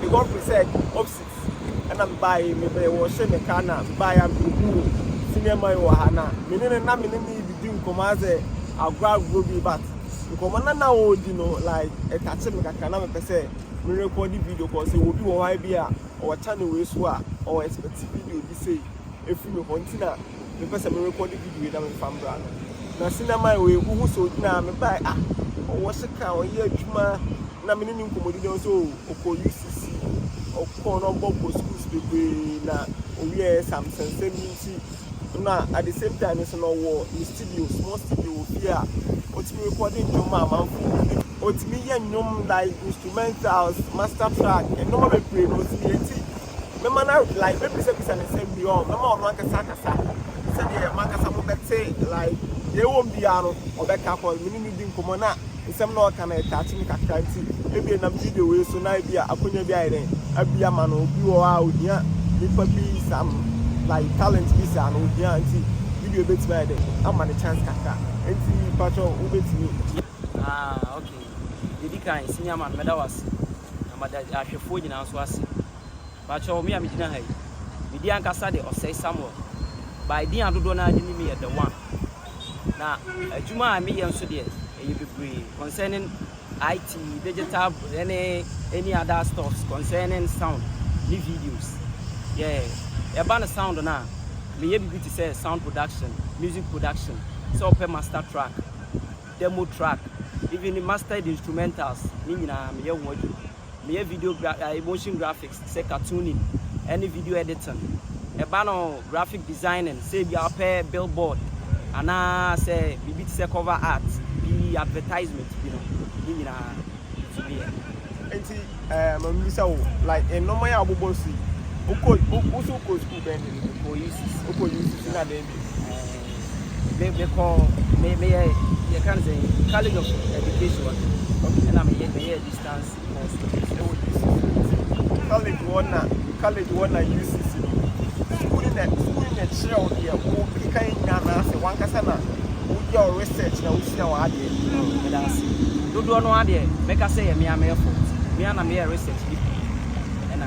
me boyfriend said opsit ɛna me baa yi mebɛyɛ wɔ hyɛ me ka na me baa yi a me hu wo senior man wɔ ha na me ne ne na me ne ne didi nkɔmɔ asɛ agorɔ agorɔ bi but nkɔmɔ na na ɔredi no like ɛtakye me kakra na mepɛ sɛ me record video kɔ sɛ obi wɔ hɔ bi a ɔwɔ channel wei so a ɔwɔ expect video bi sei ɛfiri me hɔ nti na me pɛ sɛ me rekɔde video yi na me fa mbra no na sinamai wei wo hu sɛ ogyina ha me bae ah ɔwɔ sekan ɔyɛ adwuma na me ne ne nkɔmɔdi na ɔsɛ o ɔkɔ UCC ɔkɔ na ɔbɔ bɔ schools bebree na owie ɛ sam sɛnsɛm bi nti na at the same time nso na ɔwɔ ne studio small studio wɔ fie a ɔtumi rekɔde ndwom ma amanfo ɔtumi yɛ nnwom like instrumentals master track nneɛma bebree na ɔtumi yɛ nti Mɛma no awe like mɛbisabisa no nsɛm pii ɔɔ mɛma ɔno ankasa akasa sɛdeɛ moankasa mobɛte like deɛ ɛwɔ mu biara no ɔbɛka cause me ne no di nkɔmmɔ na nsɛm na ɔka no ɛtouch me kakra nti ebia ɛnam video wei so na ebia akonya bi ayɛ dɛn abue ama no obi wɔ hɔ a ohia nipa bi some like talent bi saa no ohia nti video bɛtumi ayɛ dɛn ama no chance kakra nti patwɔ wobɛtumi Ah okay, deɛ ɛdi kan senior man mɛda wo ase na mada ahwɛfoɔ nyinaa nso ase. Pakyɛw, me a migyina ha yi, me din ankasa de Ɔsɛe Samuel. By din a dodoɔ no ara de nim me yɛ The One. Na adwuma a meyɛ nso deɛ, ɛyɛ bebree concerning IT, digital ne any other stuffs concerning sound ne videos. Yeah, ɛba no sound no a, meyɛ biribi te sɛ sound production, music production, sɛ wopɛ master track, demo track, even mastered instrumentals, ne nyinaa meyɛ ho adwuma. Meyɛ video gra ɛɛ motion graphics sɛ cartooning ne video editing. Ɛba no graphic designing sɛ ebia wopɛ billboard anaa sɛ biribi te sɛ cover art bi, advertisement bi no, ne nyinaa nso meyɛ. Nti ɛɛ ma mibisa wo, like nnoɔma yi a wobobɔ so yi, wokɔ wo wo nso wokɔ sukuu bɛn de no bi? Mekɔ UCC. Wokɔ UCC na dɛn? Ɛɛ, me kɔ me me yɛ yɛ kan sɛ college of education ɛna me yɛ me yɛ distance course ɛwɔ UCC. College wɔ na college wɔ na UCC no sukuu ne na sukuu ne na kyerɛ wo deɛ wo keka yɛ nyinaa na asɛ wankasa na woyɛ wo research na wosua wɔ adeɛ. Ɛda ase dodoɔ no adeɛ mɛka sɛ yɛ mmea mɛfo mmea na meyɛ research bi ɛna.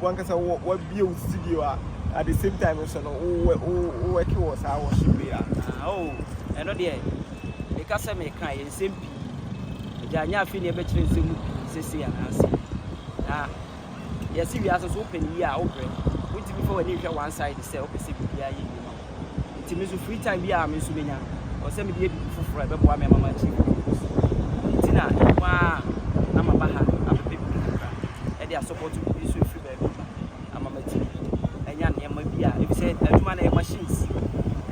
wankasa wabie wo studio a at the same time nso no wowɛke wɔ saa worship yi a oh, ɛno deɛ meka sɛ meka yɛ nsɛm pii agya nyɛ afei ne ɛbɛkyerɛ nsɛm mu pii sɛsei anaase na yɛse wiase so wopɛ ne yie a wobrɛ wontumi fa w'ani nhwɛ one side sɛ wopɛ sɛ biribiaa yɛ yie ma Nti me nso free time biara a me nso menya no, ɔwɔ sɛ mede yɛ biribi foforɔ a ɛbɛboa me ama m'akyiri mu akɔ so. Ɛno nti na me nko ara na maba ha abɛpɛ biribi kakra de asɔpɔto biribi nso ɛfiri baabi ba ama m'akyiri anya nneɛma bi a ebi sɛ adwuma no ɛyɛ machines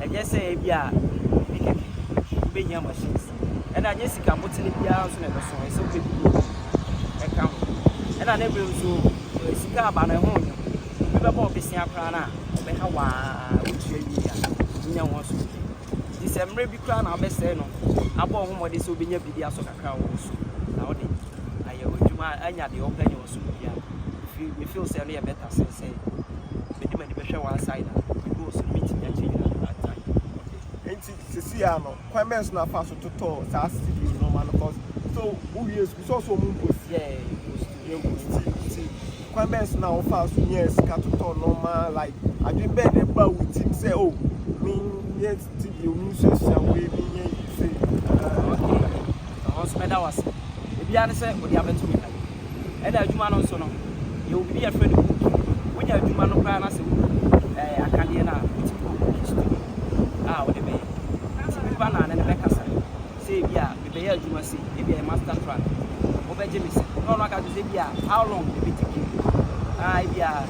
ɛnyɛ sɛ ebi a biribi kɛkɛ wobɛhia machines ɛna ɛnyɛ sika motene biara nso na ɛbɛso ɛyɛ sɛ wobɛdi ɛka ho ɛna ne mmerɛ nso eh, sika aba no ɛho nyɛ obi bɛbɔ wo bosea koraa no a, ɔbɛha wo ara, wogye awie a, wonya ho asomdwoe. Enti sɛ mmerɛ bi koraa na wobɛsɛe no, abɔ wo ho mmɔden sɛ wobɛnya biribi asɔ kakra a ɔwɔ so, na wode ayɛ w'adwuma a anya deɛ wopɛ anya w'asomdwoe a, mefi- me feel sɛ ɛno yɛ better sen sɛ mede m'ani bɛhwɛ one side a, mede wɔ so no mentumi ankyɛ nyina at a time. Enti seesei ara no, Kwan bɛn so na afaa so totɔɔ saa studio nnoɔma no cos so wo wiee sukuu sɛ ɔsɛ ɔmo mpo si yɛɛ wɔ studio mpo nti nti kwan bɛn so na wo faa so nyaa sika totɔɔ nnoɔma like adwen bɛn na ɛbaa wo tim sɛ oh me nyɛ studio me nsuasua wei me nyɛ sei. Okay, Ɔno nso mɛda wo ase. Ebiara ne sɛ ɔde abɛto me dan mu. Ɛna adwuma no nso no, yɛwɔ biribi a yɛfrɛ no booking. Wonya adwuma no koraa na sɛ wo book ɛɛ akadeɛ no a, wotumi kɔ booking studio a wode bɛyɛ. Nti nnipa naa ne no bɛkasa sɛ ebi a mebɛyɛ adwuma sei, ebi a ɛyɛ master plan, wobɛgye me sɛ? Na ɔno aka akyerɛ wo sɛ ebi a how long na ɛbɛtake you, ah ebi a.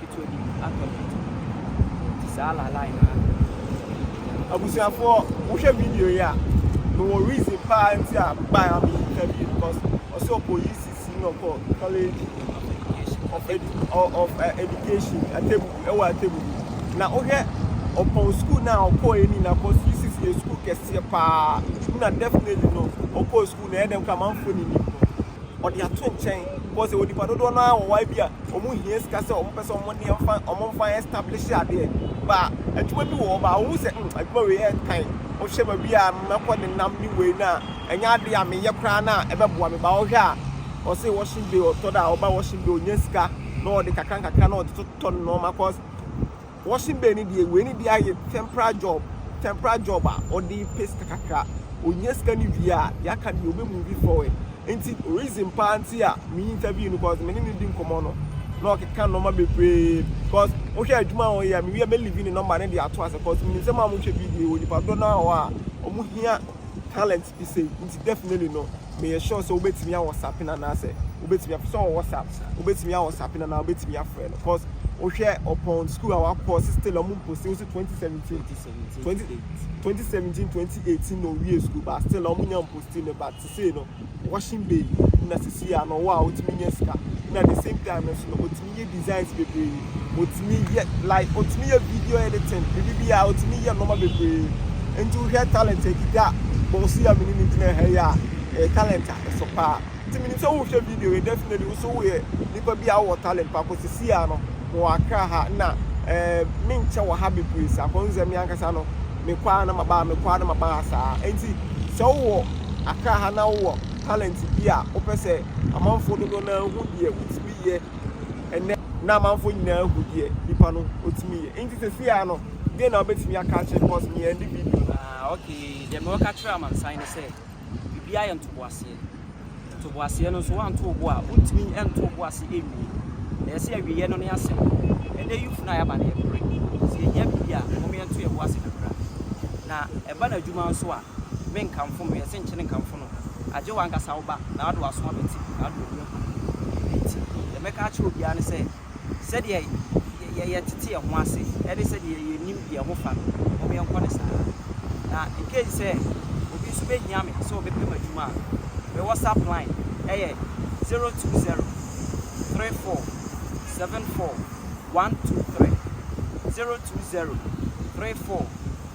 Ketewa bi atɔ me nti saa lalae no ara. Abusuafoɔ mohwɛ video yi a me wɔ reason paa nti a me bae a me yi ka bio because ɔsɛ ɔkɔ UCC na ɔkɔ college of education of uh, education atebubu ɛwɔ atebubu na wohwɛ ɔpɔn school na ɔkɔ ɛni na kɔ UCC yɛ school kɛseɛ paa na definitely no ɔkɔ school na ɛdɛm kora manfoɔ ni nim no ɔde ato nkyɛn because ɛwɔ nipa dodoɔ no ara wɔ hɔ a ebi a wɔn hia sika sɛ wɔn pɛ sɛ wɔn nneɛma fa wɔn nfa establish adeɛ ba adwuma bi wɔ hɔ ba wɔn hu sɛ mm adwuma wei ɛntan wohwɛ ba bi a mɛkɔ ne nam ne wei na ɛnyɛ adeɛ a meyɛ koraa na ɛbɛboa me ba wɔhwɛ a ɔsɛ washing day ɔtɔ da a ɔba washing day ɔnya sika na ɔde kakra nkakra na ɔde totɔ nneɛma cause Washing bay no deɛ wei no deɛ ayɛ temporary job temporary job a ɔde pɛ sika kakra ɔnya sika no wie a deɛ aka deɛ ɔbɛ move forward nti reason paa nti a me interview no cause me ne no di nkɔmmɔ no na ɔkeka nnoɔma bebree cause wohwɛ adwuma a ɔyɛ a mewie a mɛ leave ne number no de ato ase cause menim sɛ mo a mohwɛ video wɔ nipa dodoɔ no ara wɔ hɔ a wɔn hia talent te sei nti definitely no meyɛ sure sɛ wobɛtumi awɔ sapin anaasɛ wobɛtumi afrɛ sɛ ɔwɔ whatsapp wobɛtumi awɔ sapin anaa wobɛtumi afrɛ no cos wohwɛ ɔpɔn school a wakɔ se still ɔmo mposi wo se 2017 2017 2018 na owie school but still ɔmo nya mposti no but sesei no washing bay na sisi a na ɔwɔ a wotumi nya sika na the same time no nso no otumi Yɛ designs bebree otumi yɛ like otumi yɛ video editing biribi biara otumi yɛ nnoɔma bebree nti wohwɛ talent a ɛkita a bɔɔso yi a mene ne gyina ha yi a ɛyɛ talent a ɛso paa nti menim sɛ wohwɛ video yi definitely woso woyɛ nipa bi a wowɔ talent paa kɔ sisi a no mewɔ akra ha na ɛɛ menkyɛ wɔ ha bebree saa kɔ nsɛ me ankasa no mekɔ a na maba ha mekɔ a na maba ha saa nti sɛ wowɔ akra ha na wowɔ talent bi a wopɛ sɛ amanfoɔ dodoɔ no ara hu deɛ wotumi yɛ ɛnnɛ. Na amanfoɔ nyinaa hu deɛ nipa no ɔtumi yɛ nti sɛsei ara no deɛ na wobɛtumi aka akyerɛ no cos me ɛnde video no. Ah ok deɛ me ɔka kyerɛ amansan ne sɛ biribiara yɛ ntoboaseɛ ntoboaseɛ no nso wanto wo bo a wontumi nto wo bo ase nwie na yɛse awieɛ no ne asɛm ɛnɛ youth no a yɛaba no yɛpere sɛ yɛhia biribi a mom yɛnto yɛbo ase kakra na ɛba no adwuma nso a Me nkamfo no, yɛse nkyene nkamfo no, agye w'ankasa wo ba, na ɔde w'aso abɛte mu, na ɔde w'ani agu ne mu. Enti, deɛ mɛka akyerɛ obiara ne sɛ, sɛdeɛ yɛtete yɛn ho ase ne sɛdeɛ yɛnim deɛ ɛho fa no, mom yɛnkɔ no saa ara. Na in case sɛ obi nso bɛhia me sɛ ɔbɛpɛ m'adwuma a, me WhatsApp line yɛ zero two zero, three four, seven four, one two three, zero two zero, three four,